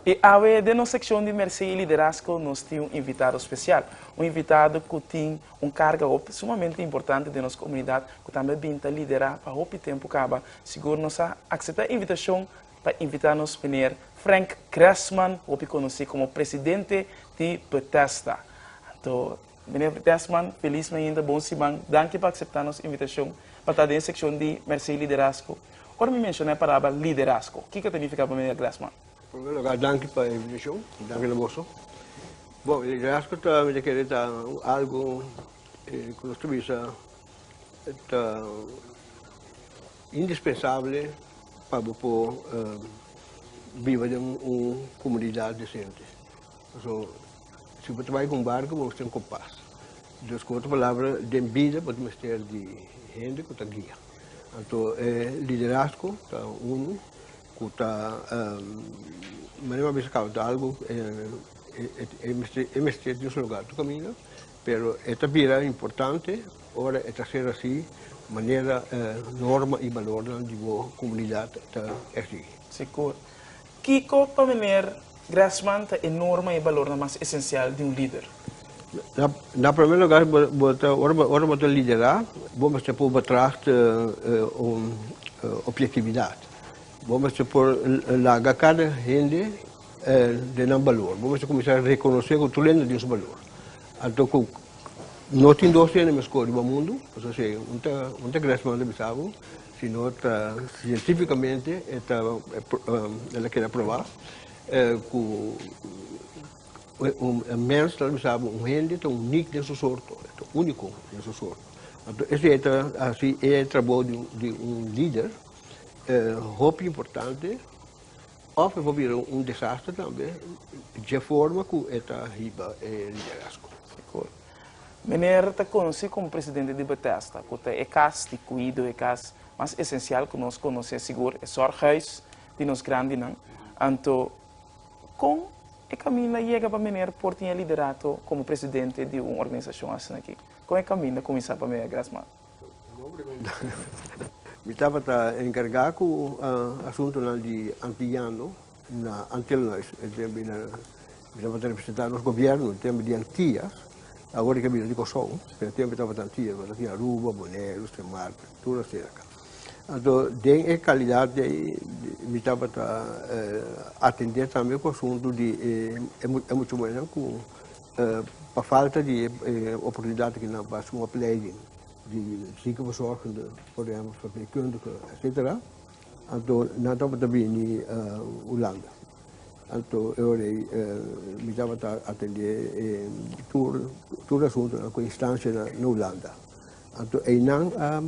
E awe den nos sekshon di Mèrsé i Liderasko nos tin un invitado spesial. Un invitado ku tin un karga hopi sumamente importante den nos komunidat ku tambe a bin ta liderá pa hopi tempu kaba. Sigur nos a akseptá e invitashon pa invitá nos Meneer Frank Gressman, hopi konosí komo Presidente di Bethesda. Anto Meneer Desmond, Feliz Mainda, Bon Siman, danki pa akseptá nos invitashon pa ta den e sekshon di Mersei Liderazgo. Ora mi menshoná e parabla liderazgo, kiko ta nifiká pa meneer Desmond? En primer lugá, danki pa e invitashon i danki na boso. Bon, liderazgo ta mi ta kere ta un algu ku nos ta bisa ta indispensable pa bo por biba den un komunidat desente. Si bo ta bai ku un barku, bo mester tin kompas. Dus, ku otro palabra, den bida bo ta mester di hende ku ta guia. Anto e liderazgo ta unu ku ta manera mas kaba ta algu e mester tin su lugar tur kaminda, pero e ta bira importante ora e ta ser asi manera norma i balornan di bo komunidat ta eksigi. Sigur. Kiko pa Meneer Grassman ta e norma i e balornan mas esensial di un lider? Na primer lugar, ora bo ta liderá, bo mester por betracht objektividat. Bo mester por laga kada hende den nan balor. Bo mester kuminsá rekonosé ku tur hende tin su balor. Anto ku no tin dos hende mescó riba mundu, pasobra esei un ta Grassman ta bisa bo. Sino ta sientífikamente e ta el a keda probá ku un mens ta lusaba un hende ta unik den su sorto, e ta úniko den su sorto. Anto esei ta hasi e trabou di un lider hopi importante òf e por bira un desaster tambe dje forma ku e ta hiba e liderazgo. Meneer ta conoci como presidente di Bethesda, cu ta e cas di cuido, e cas mas esencial cu nos conoce sigur, e zorghuis di nos grandinan. Anto, con e caminda yega pa meneer por tin e liderato como presidente di un organisacion asinaki? Con e caminda cuminsa pa meneer Grasman? Mi tabata encarga cu asuntonan di antillano. Na antel no es e tempo di e tabata representa nos gobierno e tempo di antia awor e ke bina di Kòrsou pero e tempo e tabata antia e tabata di Aruba, Boneiru, Sint Maarten tur a serka anto den e kalidad di ayi mi tabata atende tambe ku asuntu di e muchamannan ku pa falta di e oportunidad ke nan pa hasi un opleiding di sigi ku a zorg por ehempel verpleegkundige etsetera. Anto nan tabata bini Hulanda. Anto e ora ei mi tabata atendé tur tur asuntunan ku instanshanan na Hulanda. Anto einan a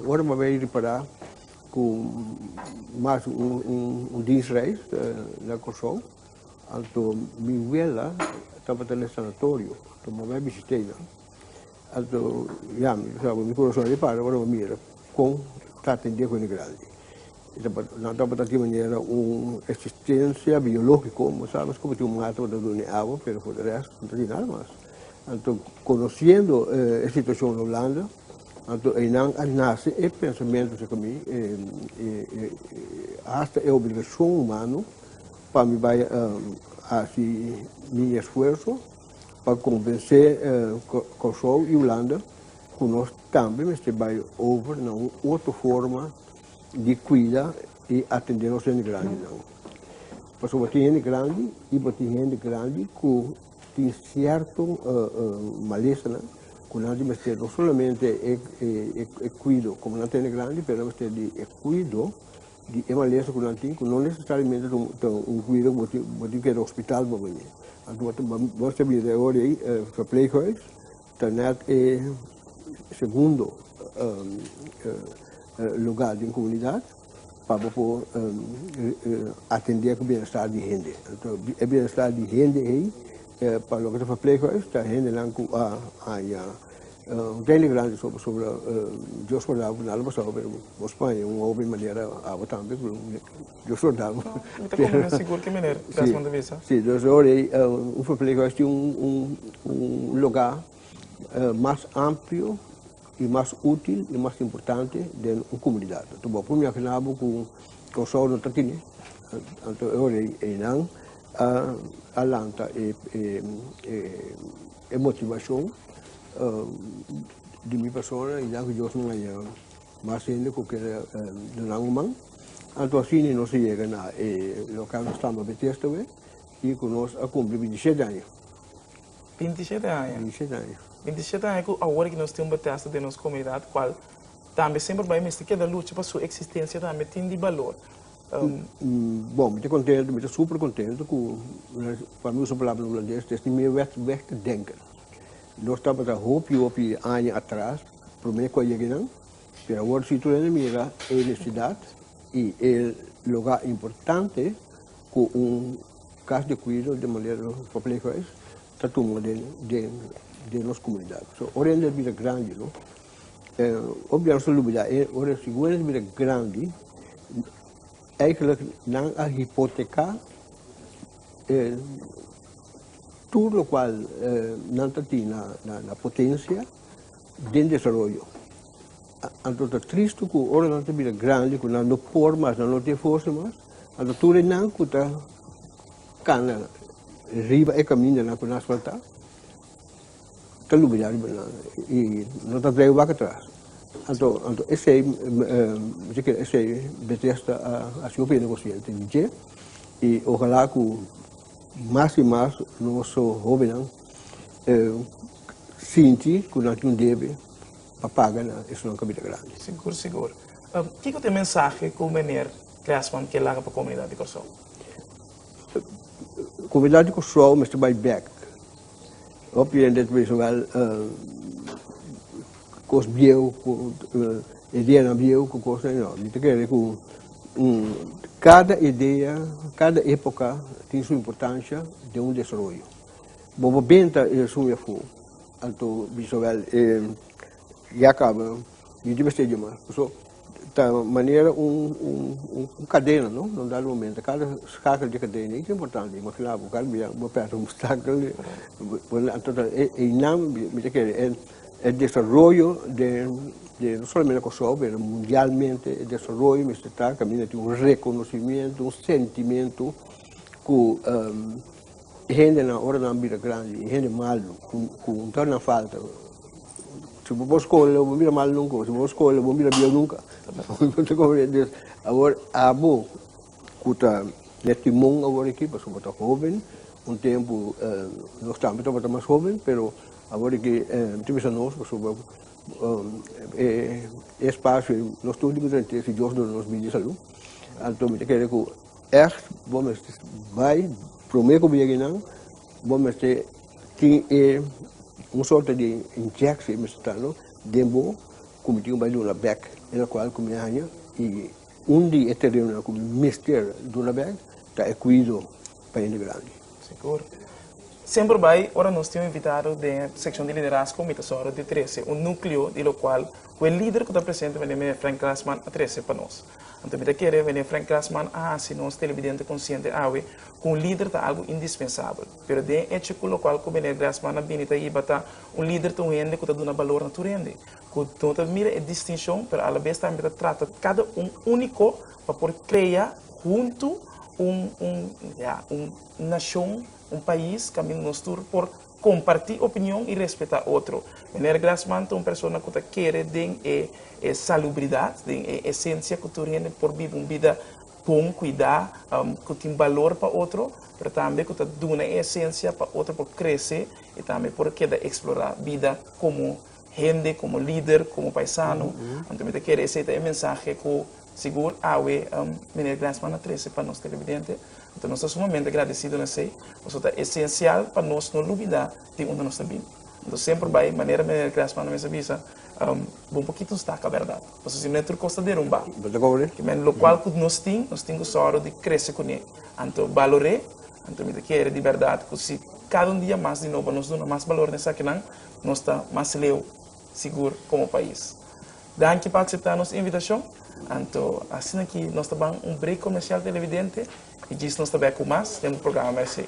ora bo a bai ripará ku mas un diensreis na Kòrsou, anto mi wela tabata na e sanatorio, anto mi a bai a bisit'einan. Anto yami ta mi corazon a repara ora bo mira con ta atendia cu hende grandi. E tabata, nan tabata di manera un existencia biologico, bo sa nos como tin un manga tabata dune awa, pero for de rest no ta tin nada mas. Anto conociendo e situacion na Hulanda, anto eynan a nace e pensamento si cu mi hasta e obligacion humano pa mi bay haci mi esfuerzo, pa konvensé Kòrsou i Hulanda ku nos tambe mester bai over na un otro forma di kuida i atendé nos hende grandinan. Pasobra bo tin hende grandi i bo tin hende grandi ku tin sierto malesanan ku nan tin mester no solamente e kuido, komo nan ta hende grandi pero nan mester di e kuido. Di e malesa ku nan tin, ku no nesesariamente ta un kuido ku bo tin ku keda hospital pa bini. Anto bo ta mester bira e ora ei e verpleeghuis ta nèt e segundo lugar den komunidat pa bo por atendé ku bienestar di hende. Anto e bienestar di hende ei pa loke ta verpleeghuis ta hendenan ku a haña. un pende grandi so pasobra Dios por dal bo nada lo pasaba pero bo Spaña un hopi manera awa tambe pero Dios lo dal bo. No, mi ta convence sigur ki manera tras manda bisa. Si, entonces lo ora ei un verpleeghuis a tin un lugá mas amplio i mas útil i mas importante den un comunidad. Anto bo a pone miafi na bo cu Kòrsou no ta tene, anto e ora ei einan a lanta e E motivacion di mi persona y ya cu Dios no haya mas hende cu kier dunan un man, anto asina nos a yega na e local nos stamba Betesda we y cu nos a cumpli binti shete aña. Binti shete aña? Binti shete aña. Binti shete aña cu awor aki nos tin un Betesda den nos comunidad, cual tambe semper bay mester keda lucha pa su existencia tambe tin di balor. Bon, mi ta kontentu, mi ta super kontentu ku pa mi usa palabra hulandes ta esnan mei wèk wèk te denken. Nos tabata hopi hopi aña atras promé ku a yega einan, pero awor si tur hende mira e nesidat i e lugá importante ku un kas de kuido de manera verpleghuis ta tuma den nos komunidat. So ora hende a bira grandi no. E gobierno ta lubida e ora e figura ta bira grandi, eigenlijk nan a hipoteca e tur locual nan ta tin na potencia den desaroyo. Anto ta triste cu ora nan ta bira grandi cu nan no por mas, nan no tin forsa mas, anto tur e nan cu ta cana riba e camindanan cu nan asfalta, Ta lumi ya riba nan y no ta dei wak atras. Anto esey mi ta kere esey Bethesda a haci hopi negociante di dje y ojalá cu mas y mas nos hobennan sinti cu nan tin un debe pa paga na esun cabida grandi. Sigur, sigur. Kico ta e mensahe cu Meneer Cressman kier laga pa comunidad di Corsou? Comunidad di Corsou mester bay bek. Hopi hende ta bisa wel kos bieu, ideanan bieu ku kosnan. No, mi ta kere ku kada idea, kada epoka tin su importansha den un desaroyo. Bo por benta e nasun e afu, anto bisa wel e ya kaba. Yu di mester di mas, paso ta manera un un cadena no, na un dado momento cada schakel di cadena ey ta importante, y mos kila bo cal bia bo perde un obstakel di bo na anto ta eynan mi ta kere e e desaroyo den den no solamente na Kòrsou pero mundialmente e desaroyo mester ta caminda tin un reconocimiento un sentimento ku E hendenan, ora nan a bira grandi, e hende malu ku un torna falta. Si bo skohe lo bo bira malu nunka, o si bo skohe lo bo bira bieu nunka. Awor, abo ku ta den timon awor aki, pasobra bo ta hoben, un tempu nos tambe tabata mas hoben, pero awor aki tin ku bisa nos, pasobra e espasio nos tur tin ku trant'e si Dios duna nos bida i salu. Anto mi ta kere ku Ècht, bo mester bai promé ku bieginan, bo mester tin e un sorto di injekshi e mester ta no den bo ku mi tin ku bai duna bèk en la kual ku mi haña i un di e terenonan ku mi mester duna bèk ta e kuido pa hende grandi. Sigur. Semper bai ora nos tin un invitado den e sekshon di liderazgo mi ta sòru di trese un núkleo di lokual ku e lider ku ta presente meneer Frank Grasman a trese pa nos. Anto mi ta kere Rene Frank Glassman a hasi nos telebidente konsiente awe ku un lider ta algu indispensabel. Pero den e echo ku lokual ku Meneer Glassman a bini ta hiba ta, un lider ta un hende ku ta duna balor na tur hende, ku no ta mira e distinshon pero alabes tambe ta trata kada un úniko pa por krea huntu un un ya un nashon, un pais kaminda nos tur por Comparti opinion y respeta otro. Meneer Glasman ta un persona cu ta kere den e e salubridad, den e esencia cu tur hende por biba un bida bon, cuida, cu tin balor pa otro, pero tambe cu ta duna e esencia pa otro por crece y tambe por keda explora bida como hende, komo lider, komo paisano, anto mi ta kere esei ta e mensahe ku sigur awe Miner Glasman a trese pa nos telebidente. Anto nos ta sumamente gradesido na esei, pasobra ta esensial pa nos no lubidá di unda nos ta bini. Anto semper bai, manera Miner Glasman a mester bisa, bo un pokito staka bèrdat, pasobra si no e tur kos ta derumbá. Kimen lokual ku nos tin, nos tin ku sòru di krese kuné. Anto balor'é, anto mi ta kere di bèrdat ku si kada un dia mas di nobo nos duna mas balor na esakinan, Nos ta mas leu sigur komo pais. Danki pa akseptá nos invitashon. Anto, asina ki nos ta ban un brek komersial televidente i djis nos ta bèk ku mas den bu programa Mèrsé.